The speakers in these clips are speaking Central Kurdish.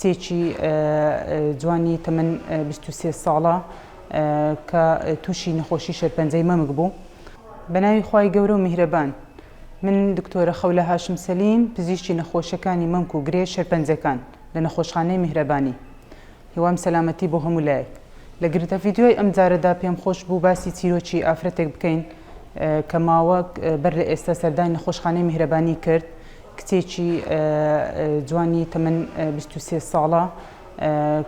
کچێکی جوانی تەمەن بیست و سێ ساڵە کە تووشی نەخۆشی شێرپەنجەی مەمک بوو. بەناوی خوای گەورە و میهرەبان. من دکتۆرە خەولە هاشم سەلیم، پزیشکی نەخۆشیەکانی مەمک و گرێ شێرپەنجەکان لە نەخۆشخانەی میهرەبانی. هیوام سەلامەتی بۆ هەموو لایەک. لە گرتە ڤیدیۆی ئەمجارەدا پێم خۆش بوو باسی چیرۆکی ئافرەتێک بکەین کە ماوەک بەر لە ئێستا سەردانی نەخۆشخانەی میهرەبانی کرد، کچێکی جوانی تەمەن بیست و سێ ساڵە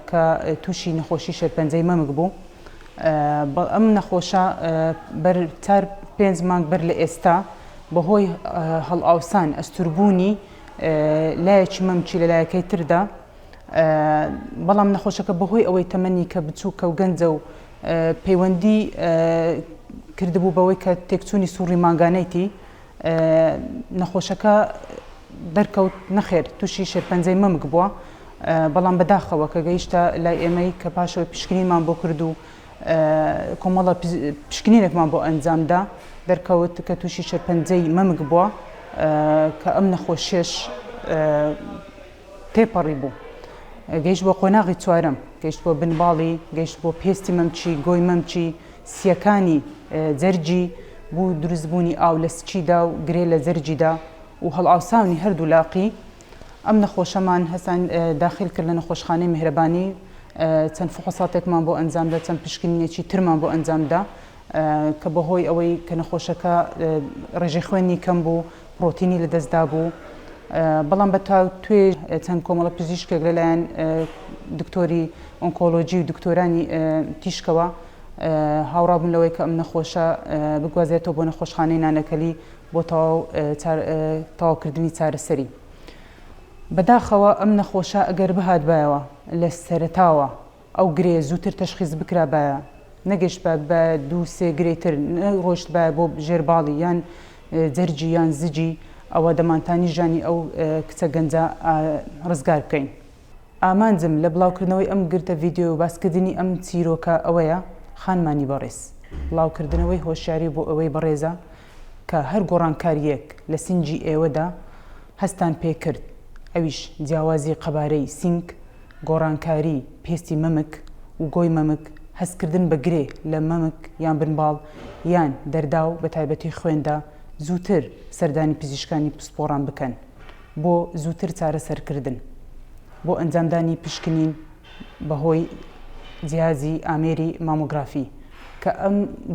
کە تووشی نەخۆشی شێرپەنجەی مەمک بوو. ئەم نەخۆشە بەر چار پێنج مانگ بەر لە ئێستا بەهۆی هەڵئاوسان ئەستوربوونی لایەکی مەمکی لە لایەکەی تردا بەڵام نەخۆشەکە بەهۆی ئەوەی تەمەنی کە بچووکە و گەنجە و پەیوەندی کردبوو بەوەی کە تێکچوونی سوڕی مانگانەیتی نەخۆشەکە دەرکەوت نەخێر تووشی شێرپەنجەی مەمک بووە، بەڵام بەداخەوە کە گەیشتە لای ئێمەی کە پاشەوەی پشکنینمان بۆ کرد و کۆمەڵە پشکنینێکمان بۆ ئەنجامدا دەرکەوت کە تووشی شێرپەنجەی مەمک بووە کە ئەم نەخۆشیەش تێپەڕی بوو گەیشت بۆ قۆناغی چوارەم، گەیشت بۆ بن باڵی، گەیشت بۆ پێستی مەمکی، گۆی مەمکی، سییەکانی جەرگی بۆ دروست بوونی ئاو لە سکیدا و گرێ لە جەرگیدا و هەڵئاوساونی هەردوو لاقی ئەم نەخۆشەمان هەسان داخیل کرد لە نەخۆشخانەی میهرەبانی چەند فحوساتێکمان بۆ ئەنجامدا چەند پشکنینێکی ترمان بۆ ئەنجامدا کە بەهۆی ئەوەی کە نەخۆشەکە ڕێژەی خوێنی کەم بوو پڕۆتینی لەدەست دابوو بەڵام بە تاوتوێ چەند کۆمەڵە پزیشکێک لەلایەن دکتۆری ئۆنکۆلۆژی و دکتۆرانی تیشکەوە هاوڕابوون لەوەی کە ئەم نەخۆشە بگوازێتەوە بۆ نەخۆشخانەی نانەکەلی بۆ تەواوکردنی چارەسەری بەداخەوە ئەم نەخۆشە ئەگەر بهاتبایەوە لە سەرتاوە ئەو گرێ زووتر تەشخیس بکرابایە، نەگەشتبایە بە دوو سێ گرێی تر، نەڕۆیشتبایە بۆ ژێر باڵی یان جەرگی یان زگی، ئەوا دەمانتانی ژانی ئەو کچە گەنجە ڕزگار بکەین. ئامانجم لە بڵاوکردنەوەی ئەم گرتە ڤیدیۆ و باسکردنی ئەم چیرۆکە ئەوەیە، خانمانی بەڕێز، بڵاوکردنەوەی هۆشیاری بۆ ئەوەی بەڕێزە کە هەر گۆڕانکارییەک لە سینگی ئێوەدا هەستتان پێ کرد، ئەویش جیاوازی قەبارەی سینگ، گۆڕانکاری پێستی مەمک و گۆی مەمک، هەستکردن بە گرێ لە مەمک یان بنباڵ یان دەرداو بە تایبەتی خوێندا، زووتر سەردانی پزیشکانی پسپۆڕان بکەن بۆ زووتر چارەسەرکردن. بۆ ئەنجامدانی پشکنین بەهۆی جیهازی ئامێری مامۆگرافی کە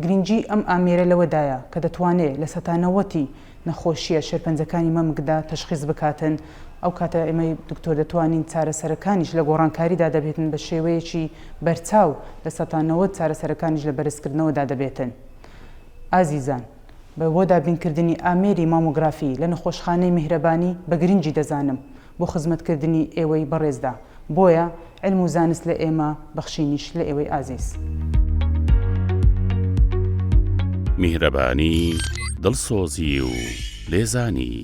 گرنگی ئەم ئامێرە لەوەدایە کە دەتوانێت لە سەتا نەوەتی نەخۆشییە شێرپەنجەکانی مەمکدا تەشخیس بکاتن ئەو کاتە ئێمەی دکتۆر دەتوانین چارەسەرەکانیش لە گۆڕانکاریدا دەبێتن بە شێوەیەکی بەرچاو لە سەتا نەوەت چارەسەرەکانیش لە بەرزکردنەوەدا دەبێتن ئازیزان بە بۆ دابینکردنی ئامێری مامۆگرافی لە نەخۆشخانەی میهرەبانی بە گرنگی دەزانم بۆ خزمەت کردنی ئێوەی بەڕێزدا. بۆیە علم و زانست لە ئێمە، بەخشینیش لە ئێوەی ئازیز. میهرەبانی، دڵسۆزی و لێزانی.